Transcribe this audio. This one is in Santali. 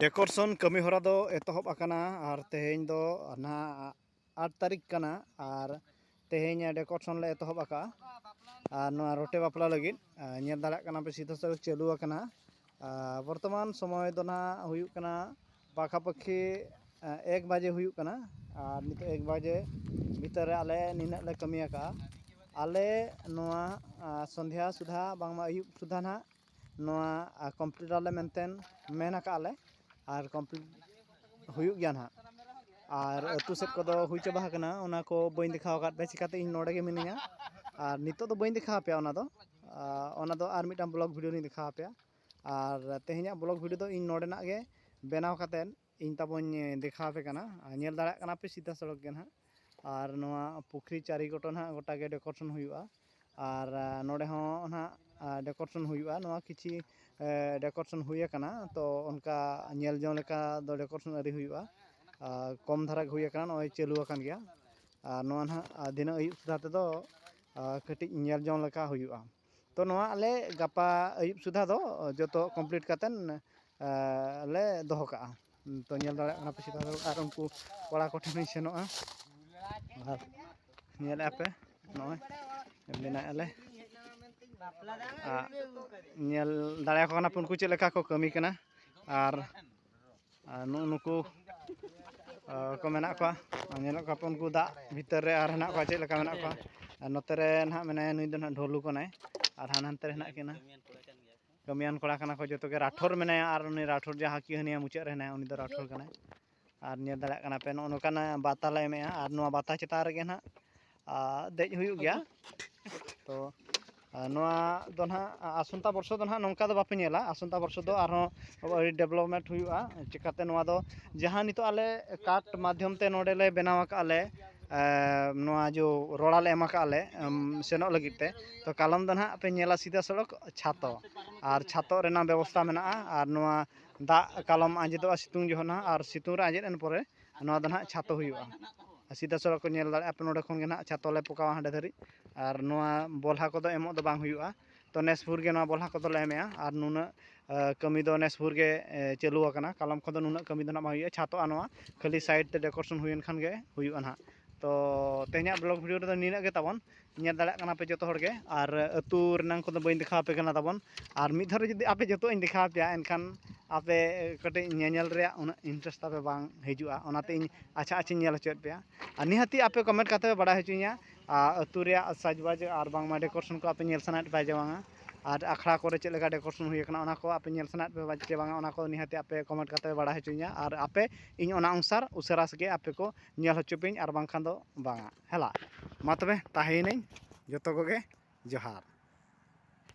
ᱰᱮᱠᱳᱨᱮᱥᱚᱱ ᱠᱟᱹᱢᱤ ᱦᱚᱨᱟ ᱫᱚ ᱮᱛᱚᱦᱚᱵ ᱟᱠᱟᱱᱟ ᱟᱨ ᱛᱮᱦᱮᱧ ᱫᱚ ᱱᱟᱦᱟᱜ ᱟᱴ ᱛᱟᱹᱨᱤᱠᱷ ᱠᱟᱱᱟ ᱟᱨ ᱛᱮᱦᱮᱧ ᱰᱮᱠᱳᱨᱮᱥᱚᱱ ᱞᱮ ᱮᱛᱚᱦᱚᱵ ᱟᱠᱟᱜᱼᱟ ᱟᱨ ᱱᱚᱣᱟ ᱨᱚᱴᱮ ᱵᱟᱯᱞᱟ ᱞᱟᱹᱜᱤᱫ ᱧᱮᱞ ᱫᱟᱲᱮᱭᱟᱜ ᱠᱟᱱᱟ ᱯᱮ ᱥᱤᱫᱷᱟᱹ ᱥᱟᱹᱨᱤ ᱪᱟᱹᱞᱩ ᱟᱠᱟᱱᱟ ᱵᱚᱨᱛᱚᱢᱟᱱ ᱥᱚᱢᱚᱭ ᱫᱚ ᱱᱟᱦᱟᱜ ᱦᱩᱭᱩᱜ ᱠᱟᱱᱟ ᱯᱟᱠᱷᱟ ᱯᱟᱹᱠᱷᱤ ᱮᱠ ᱵᱟᱡᱮ ᱦᱩᱭᱩᱜ ᱠᱟᱱᱟ ᱟᱨ ᱱᱤᱛᱚᱜ ᱮᱠ ᱵᱟᱡᱮ ᱵᱷᱤᱛᱟᱹᱨ ᱨᱮ ᱟᱞᱮ ᱱᱤᱱᱟᱹᱜ ᱞᱮ ᱠᱟᱹᱢᱤ ᱟᱠᱟᱜᱼᱟ ᱟᱞᱮ ᱱᱚᱣᱟ ᱥᱚᱱᱫᱷᱟ ᱥᱩᱫᱷᱟ ᱵᱟᱝᱢᱟ ᱟᱹᱭᱩᱵ ᱥᱩᱫᱷᱟ ᱱᱟᱦᱟᱜ ᱱᱚᱣᱟ ᱠᱚᱢᱯᱞᱤᱴ ᱟᱞᱮ ᱢᱮᱱᱛᱮ ᱢᱮᱱ ᱠᱟᱜᱼᱟ ᱞᱮ ᱟᱨ ᱠᱚᱢᱯᱞᱤᱴ ᱦᱩᱭᱩᱜ ᱜᱮᱭᱟ ᱦᱟᱸᱜ ᱟᱨ ᱟᱛᱳ ᱥᱮᱫ ᱠᱚᱫᱚ ᱦᱩᱭ ᱪᱟᱵᱟ ᱟᱠᱟᱱᱟ ᱚᱱᱟ ᱠᱚ ᱵᱟᱹᱧ ᱫᱮᱠᱷᱟᱣ ᱠᱟᱜ ᱯᱮᱭᱟ ᱪᱤᱠᱟᱛᱮ ᱤᱧ ᱱᱚᱰᱮ ᱜᱮ ᱢᱤᱱᱟᱹᱧᱟ ᱟᱨ ᱱᱤᱛᱚᱜ ᱫᱚ ᱵᱟᱹᱧ ᱫᱮᱠᱷᱟᱣ ᱯᱮᱭᱟ ᱚᱱᱟ ᱫᱚ ᱚᱱᱟ ᱫᱚ ᱟᱨ ᱢᱤᱫᱴᱟᱱ ᱵᱞᱚᱜᱽ ᱵᱷᱤᱰᱭᱳ ᱨᱤᱧ ᱫᱮᱠᱷᱟᱣ ᱯᱮᱭᱟ ᱟᱨ ᱛᱮᱦᱮᱧᱟᱜ ᱵᱞᱚᱜᱽ ᱵᱷᱤᱰᱭᱳ ᱫᱚ ᱤᱧ ᱱᱚᱰᱮᱱᱟᱜ ᱜᱮ ᱵᱮᱱᱟᱣ ᱠᱟᱛᱮ ᱤᱧ ᱛᱟᱵᱚᱧ ᱫᱮᱠᱷᱟᱣ ᱟᱯᱮ ᱠᱟᱱᱟ ᱧᱮᱞ ᱫᱟᱲᱮᱭᱟᱜ ᱠᱟᱱᱟ ᱯᱮ ᱥᱤᱫᱷᱟ ᱥᱚᱲᱚᱠ ᱜᱮ ᱱᱟᱦᱟᱜ ᱟᱨ ᱱᱚᱣᱟ ᱯᱩᱠᱷᱨᱤ ᱪᱟᱹᱨᱤ ᱜᱚᱴᱟ ᱱᱟᱦᱟᱜ ᱜᱚᱴᱟ ᱜᱮ ᱰᱮᱠᱚᱨᱮᱥᱚᱱ ᱦᱩᱭᱩᱜᱼᱟ ᱟᱨ ᱱᱚᱰᱮ ᱦᱚᱸ ᱱᱟᱦᱟᱜ ᱰᱮᱠᱚᱨᱮᱥᱚᱱ ᱦᱩᱭᱩᱜᱼᱟ ᱱᱚᱣᱟ ᱠᱤᱪᱷᱤ ᱰᱮᱠᱚᱨᱮᱥᱚᱱ ᱦᱩᱭ ᱟᱠᱟᱱᱟ ᱛᱚ ᱚᱱᱠᱟ ᱧᱮᱞ ᱡᱚᱝ ᱞᱮᱠᱟ ᱫᱚ ᱰᱮᱠᱚᱨᱮᱥᱚᱱ ᱟᱹᱣᱨᱤ ᱦᱩᱭᱩᱜᱼᱟ ᱟᱨ ᱠᱚᱢ ᱫᱷᱟᱨᱟ ᱜᱮ ᱦᱩᱭ ᱟᱠᱟᱱᱟ ᱱᱚᱜᱼᱚᱭ ᱪᱟᱹᱞᱩ ᱟᱠᱟᱱ ᱜᱮᱭᱟ ᱟᱨ ᱱᱚᱣᱟ ᱱᱟᱦᱟᱜ ᱫᱷᱤᱱᱟᱹᱱ ᱟᱹᱭᱩᱵ ᱥᱮᱫ ᱛᱮᱫᱚ ᱠᱟᱹᱴᱤᱡ ᱧᱮᱞ ᱡᱚᱝ ᱞᱮᱠᱟ ᱦᱩᱭᱩᱜᱼᱟ ᱛᱚ ᱱᱚᱣᱟ ᱟᱞᱮ ᱜᱟᱯᱟ ᱟᱹᱭᱩᱵ ᱥᱩᱫᱷᱟ ᱫᱚ ᱡᱚᱛᱚ ᱠᱚᱢᱯᱞᱤᱴ ᱠᱟᱛᱮᱫ ᱞᱮ ᱫᱚᱦᱚ ᱠᱟᱜᱼᱟ ᱛᱚ ᱧᱮᱞ ᱫᱟᱲᱮᱭᱟᱜ ᱠᱟᱱᱟ ᱯᱮ ᱥᱮ ᱵᱟᱝ ᱟᱨ ᱩᱱᱠᱩ ᱠᱚᱲᱟ ᱠᱚ ᱴᱷᱮᱱ ᱦᱚᱸᱧ ᱥᱮᱱᱚᱜᱼᱟ ᱟᱨ ᱧᱮᱞᱮᱫᱼᱟ ᱯᱮ ᱱᱚᱜᱼᱚᱭ ᱵᱮᱱᱟᱣᱮᱫᱼᱟ ᱞᱮ ᱟᱨ ᱧᱮᱞ ᱫᱟᱲᱮᱭᱟᱠᱚ ᱠᱟᱱᱟ ᱯᱮ ᱩᱱᱠᱩ ᱪᱮᱫ ᱞᱮᱠᱟ ᱠᱚ ᱠᱟᱹᱢᱤ ᱠᱟᱱᱟ ᱟᱨ ᱟᱨ ᱱᱩᱜᱼᱩ ᱱᱩᱠᱩ ᱠᱚ ᱢᱮᱱᱟᱜ ᱠᱚᱣᱟ ᱟᱨ ᱧᱮᱞᱮᱫ ᱠᱚᱣᱟ ᱯᱮ ᱩᱱᱠᱩ ᱫᱟᱜ ᱵᱷᱤᱛᱟᱹᱨ ᱨᱮ ᱟᱨ ᱦᱮᱱᱟᱜ ᱠᱚᱣᱟ ᱪᱮᱫ ᱞᱮᱠᱟ ᱢᱮᱱᱟᱜ ᱠᱚᱣᱟ ᱟᱨ ᱱᱚᱛᱮ ᱨᱮ ᱱᱟᱜ ᱢᱮᱱᱟᱭᱟ ᱱᱩᱭ ᱫᱚ ᱱᱟᱜ ᱰᱷᱚᱞᱩ ᱠᱟᱱᱟᱭ ᱟᱨ ᱦᱟᱱᱮ ᱦᱟᱱᱛᱮ ᱨᱮ ᱦᱮᱱᱟᱜ ᱠᱤᱱᱟ ᱠᱟᱹᱢᱤᱭᱟᱱ ᱠᱚᱲᱟ ᱠᱟᱱᱟ ᱠᱚ ᱡᱚᱛᱚ ᱜᱮ ᱨᱟᱴᱷᱳᱨ ᱢᱮᱱᱟᱭᱟ ᱟᱨ ᱩᱱᱤ ᱨᱟᱴᱷᱳᱨ ᱡᱟᱦᱟᱸ ᱠᱤ ᱦᱟᱹᱱᱤᱭᱟᱹ ᱢᱩᱪᱟᱹᱫ ᱨᱮ ᱦᱮᱱᱟᱭᱟ ᱩᱱᱤ ᱫᱚ ᱨᱟᱴᱷᱳᱨ ᱠᱟᱱᱟᱭ ᱟᱨ ᱧᱮᱞ ᱫᱟᱲᱮᱭᱟᱜ ᱠᱟᱱᱟ ᱯᱮ ᱱᱚᱜᱼᱚ ᱱᱚᱝᱠᱟᱱᱟᱜ ᱵᱟᱛᱟ ᱞᱮ ᱮᱢᱮᱜᱼᱟ ᱟᱨ ᱱᱚᱣᱟ ᱵᱟᱛᱟ ᱪᱮᱛᱟᱱ ᱨᱮᱜᱮ ᱱᱟᱜ ᱫᱮᱡ ᱦᱩᱭᱩᱜ ᱜᱮᱭᱟ ᱛᱚ ᱱᱚᱣᱟ ᱫᱚ ᱱᱟᱦᱟᱜ ᱟᱥᱚᱱᱛᱟ ᱵᱚᱨᱥᱚ ᱫᱚ ᱱᱟᱦᱟᱜ ᱱᱚᱝᱠᱟ ᱫᱚ ᱵᱟᱯᱮ ᱧᱮᱞᱟ ᱟᱥᱚᱱᱛᱟ ᱵᱚᱨᱥᱚ ᱫᱚ ᱟᱨᱦᱚᱸ ᱟᱹᱰᱤ ᱰᱮᱵᱷᱞᱚᱯᱢᱮᱱᱴ ᱦᱩᱭᱩᱜᱼᱟ ᱪᱤᱠᱟᱹᱛᱮ ᱱᱚᱣᱟ ᱫᱚ ᱡᱟᱦᱟᱸ ᱱᱤᱛᱚᱜ ᱟᱞᱮ ᱠᱟᱴ ᱢᱟᱫᱽᱫᱷᱚᱢ ᱛᱮ ᱱᱚᱰᱮ ᱞᱮ ᱵᱮᱱᱟᱣ ᱠᱟᱜᱼᱟ ᱞᱮ ᱱᱚᱣᱟ ᱡᱚ ᱨᱚᱲᱟ ᱞᱮ ᱮᱢ ᱠᱟᱜᱼᱟ ᱞᱮ ᱥᱮᱱᱚᱜ ᱞᱟᱹᱜᱤᱫ ᱛᱮ ᱛᱚ ᱠᱟᱞᱚᱢ ᱫᱚ ᱱᱟᱦᱟᱜ ᱯᱮ ᱧᱮᱞᱟ ᱥᱤᱫᱷᱟᱹ ᱥᱚᱲᱚᱠ ᱪᱷᱟᱛᱚ ᱟᱨ ᱪᱷᱟᱛᱚ ᱨᱮᱱᱟᱜ ᱵᱮᱵᱚᱥᱛᱷᱟ ᱢᱮᱱᱟᱜᱼᱟ ᱟᱨ ᱱᱚᱣᱟ ᱫᱟᱜ ᱠᱟᱞᱚᱢ ᱟᱸᱡᱮᱫᱚᱜᱼᱟ ᱥᱤᱛᱩᱝ ᱡᱚᱠᱷᱚᱱ ᱦᱟᱸᱜ ᱟᱨ ᱥᱤᱛᱩᱝ ᱨᱮ ᱟᱸᱡᱮᱫ ᱮᱱ ᱯᱚᱨᱮ ᱱᱚᱣᱟ ᱫᱚ ᱱᱟᱦᱟᱜ ᱪᱷᱟᱛᱚ ᱦᱩᱭᱩᱜᱼᱟ ᱟᱨ ᱥᱤᱫᱷᱟ ᱥᱚᱨᱟ ᱠᱚ ᱧᱮᱞ ᱫᱟᱲᱮᱭᱟᱜᱼᱟ ᱟᱯᱮ ᱱᱚᱰᱮ ᱠᱷᱚᱱ ᱜᱮ ᱱᱟᱦᱟᱜ ᱪᱷᱟᱛᱚ ᱞᱮ ᱯᱚᱠᱟᱣᱟ ᱦᱟᱸᱰᱮ ᱫᱷᱟᱹᱨᱤᱡ ᱟᱨ ᱱᱚᱣᱟ ᱵᱚᱞᱦᱟ ᱠᱚᱫᱚ ᱮᱢᱚᱜ ᱫᱚ ᱵᱟᱝ ᱦᱩᱭᱩᱜᱼᱟ ᱛᱚ ᱱᱮᱥ ᱵᱷᱳᱨ ᱜᱮ ᱱᱚᱣᱟ ᱵᱚᱞᱦᱟ ᱠᱚᱫᱚᱞᱮ ᱮᱢᱮᱜᱼᱟ ᱟᱨ ᱱᱩᱱᱟᱹᱜ ᱠᱟᱹᱢᱤ ᱫᱚ ᱱᱮᱥ ᱵᱷᱳᱨ ᱜᱮ ᱪᱟᱹᱞᱩ ᱟᱠᱟᱱᱟ ᱠᱟᱞᱚᱢ ᱠᱷᱚᱱ ᱫᱚ ᱱᱩᱱᱟᱹᱜ ᱠᱟᱹᱢᱤ ᱫᱚ ᱱᱟᱦᱟᱜ ᱵᱟᱝ ᱦᱩᱭᱩᱜᱼᱟ ᱪᱷᱟᱛᱚᱜᱼᱟ ᱱᱚᱣᱟ ᱠᱷᱟᱹᱞᱤ ᱥᱟᱭᱤᱰ ᱛᱮ ᱰᱮᱠᱳᱨᱮᱥᱚᱱ ᱦᱩᱭᱮᱱ ᱠᱷᱟᱱ ᱜᱮ ᱦᱩᱭᱩᱜᱼᱟ ᱱᱟᱦᱟᱜ ᱛᱚ ᱛᱮᱦᱮᱧᱟᱜ ᱵᱞᱚᱜᱽ ᱵᱷᱤᱰᱤᱭᱳ ᱨᱮᱫᱚ ᱱᱤᱱᱟᱹᱜ ᱜᱮ ᱛᱟᱵᱚᱱ ᱧᱮᱞ ᱫᱟᱲᱮᱭᱟᱜ ᱠᱟᱱᱟ ᱯᱮ ᱡᱚᱛᱚ ᱦᱚᱲ ᱜᱮ ᱟᱨ ᱟᱹᱛᱩ ᱨᱮᱱᱟᱜ ᱠᱚᱫᱚ ᱵᱟᱹᱧ ᱫᱮᱠᱷᱟᱣ ᱟᱯᱮ ᱠᱟᱱᱟ ᱛᱟᱵᱚᱱ ᱟᱨ ᱢᱤᱫ ᱫᱷᱟᱣ ᱨᱮ ᱡᱩᱫᱤ ᱟᱯᱮ ᱡᱚᱛᱚᱣᱟᱜ ᱤᱧ ᱫᱮᱠᱷᱟᱣ ᱟᱯᱮᱭᱟ ᱮᱱᱠᱷᱟᱱ ᱟᱯᱮ ᱠᱟᱹᱴᱤᱡ ᱧᱮᱧᱮᱞ ᱨᱮᱭᱟᱜ ᱩᱱᱟᱹᱜ ᱤᱱᱴᱟᱨᱮᱥᱴ ᱛᱟᱯᱮ ᱵᱟᱝ ᱦᱤᱡᱩᱜᱼᱟ ᱚᱱᱟᱛᱮ ᱤᱧ ᱟᱪᱪᱷᱟ ᱟᱪᱪᱷᱟᱧ ᱧᱮᱞ ᱦᱚᱪᱚᱭᱮᱫ ᱯᱮᱭᱟ ᱟᱨ ᱱᱤᱦᱟᱹᱛᱤ ᱟᱯᱮ ᱠᱚᱢᱮᱱᱴ ᱠᱟᱛᱮᱫ ᱯᱮ ᱵᱟᱲᱟᱭ ᱦᱚᱪᱚᱧᱟ ᱟᱨ ᱟᱹᱛᱩ ᱨᱮᱭᱟᱜ ᱥᱟᱡᱽ ᱵᱟᱡᱽ ᱟᱨ ᱵᱟᱝᱢᱟ ᱰᱮᱠᱳᱨᱮᱥᱚᱱ ᱠᱚ ᱟᱯᱮ ᱧᱮᱞ ᱥᱟᱱᱟᱭᱮᱫ ᱯᱮᱭᱟ ᱥᱮ ᱵᱟᱝᱟ ᱟᱨ ᱟᱠᱷᱲᱟ ᱠᱚᱨᱮᱜ ᱪᱮᱫ ᱞᱮᱠᱟ ᱰᱮᱠᱳᱨᱮᱥᱚᱱ ᱦᱩᱭ ᱠᱟᱱᱟ ᱚᱱᱟ ᱠᱚ ᱟᱯᱮ ᱧᱮᱞ ᱥᱟᱱᱟᱭᱮᱫ ᱯᱮᱭᱟ ᱥᱮ ᱵᱟᱝᱟ ᱚᱱᱟ ᱠᱚ ᱱᱤᱦᱟᱹᱛᱤ ᱟᱯᱮ ᱠᱚᱢᱮᱱᱴ ᱠᱟᱛᱮᱫ ᱯᱮ ᱵᱟᱲᱟᱭ ᱦᱚᱪᱚᱧᱟ ᱟᱨ ᱟᱯᱮ ᱤᱧ ᱚᱱᱟ ᱚᱱᱩᱥᱟᱨ ᱩᱥᱟᱹᱨᱟ ᱥᱟᱺᱦᱤᱡ ᱟᱯᱮ ᱠᱚ ᱧᱮᱞ ᱦᱚᱪᱚ ᱯᱮᱭᱟᱹᱧ ᱟᱨ ᱵᱟᱝᱠᱷᱟᱱ ᱫᱚ ᱵᱟᱝᱟ ᱦᱮᱞᱟ ᱢᱟ ᱛᱚᱵᱮ ᱛᱟᱦᱮᱸᱭᱮᱱᱟᱹᱧ ᱡᱚᱛᱚ ᱠᱚᱜᱮ ᱡᱚᱦᱟᱨ